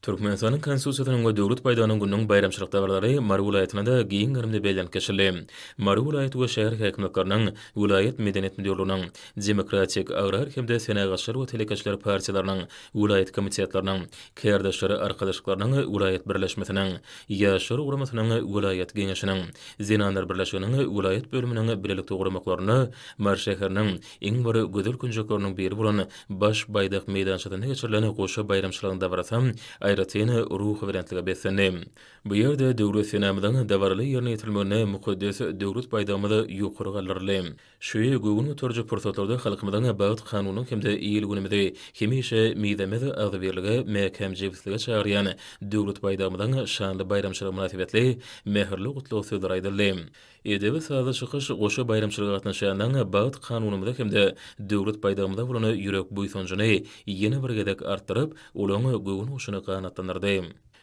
Türkmenistanyň Konstitusiýasynyň we Döwlet baýdagynyň gününiň baýramçylyk dabaralary Mary welaýatynda-da giň gerimde bellenip geçildi. Mary welaýat we şäher häkimiýetleriniň, welaýat medeniýet müdirliginiň, Demokratik, Agrar hem-de Senagatçylar we telekeçiler partiýalarynyň welaýat komitetleriniň, Kärdeşler arkalaşyklarynyň welaýat birleşmesiniň, Ýaşlar guramasynyň welaýat geňeşiniň, Zenanlar birleşiginiň welaýat bölüminiň bilelikde guramaklarynda Mary şäheriniň, Iň bir gözel künjekleriniň biri bolan Baş baýdak meýdançasynda geçirilen goşa baýramçylygyň dabarasy aýratyn ruhubelentlige beslendi. Bu ýerde Döwlet senamyzyň dabaraly ýerine ýetirilmeginde mukaddes Döwlet baýdagymyz ýokary galdyryldy. Şu göwün göteriji pursatlarda halkymyzyň bagt kanunynyň hem-de il-günümizi hemişe mizemez agzybirlige, mäkäm jebislige çagyrýan Döwlet baýdagymyzyň şanly baýramçylygy mynasybetli mähirli gutlag sözleri aýdyldy. Edebi sazly çykyş goşa baýramçylyga gatnaşýanlaryň bagt kanunymyza hem-de Döwlet baýdagymyza bolan ýürek buýsanjyny ýene bir gezek artdyryp, olaryň göwün guşuny ganatlandyrdy.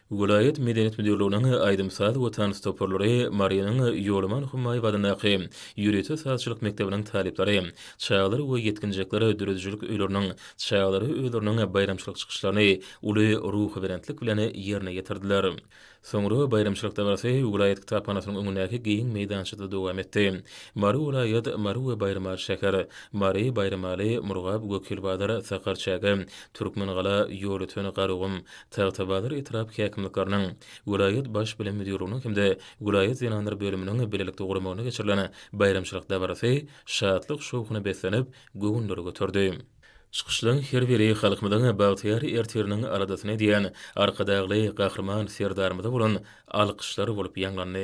Welaýat medeniýet müdirliginiň aýdym-saz we tans toparlary, Marynyň Ýolaman Hummaýew adyndaky ýörite sazçylyk mekdebiniň talyplary, çagalar we ýetginjekler döredijilik öýleriniň çagalary özleriniň baýramçylyk çykyşlaryny uly ruhubelentlik bilen ýerine ýetirdiler. Soňra baýramçylyk dabarasy welaýat kitaphanasynyň öňündäki giň meýdançada dowam etdi. Mary welaýat, Mary we Baýramaly şäher, Mary, Baýramaly, Murgap, Gökýylbazar, Sakarçäge, Türkmengala, Ýolöten, Garagum, Tagtabazar etrap häkimlikleriniň, welaýat Baş bilim müdirliginiň hem-de welaýat zenanlar bölüminiň bilelikde guramagynda geçirilen baýramçylyk dabarasy şatlyk-şowhuna beslenip, göwünleri göterdi. Çykyşlaryň her biri halkymyzyň bagtyýar ertiriniň aladasyny edýän Arkadagly Gahryman Serdarymyza bolan alkyşlar bolup ýaňlandy.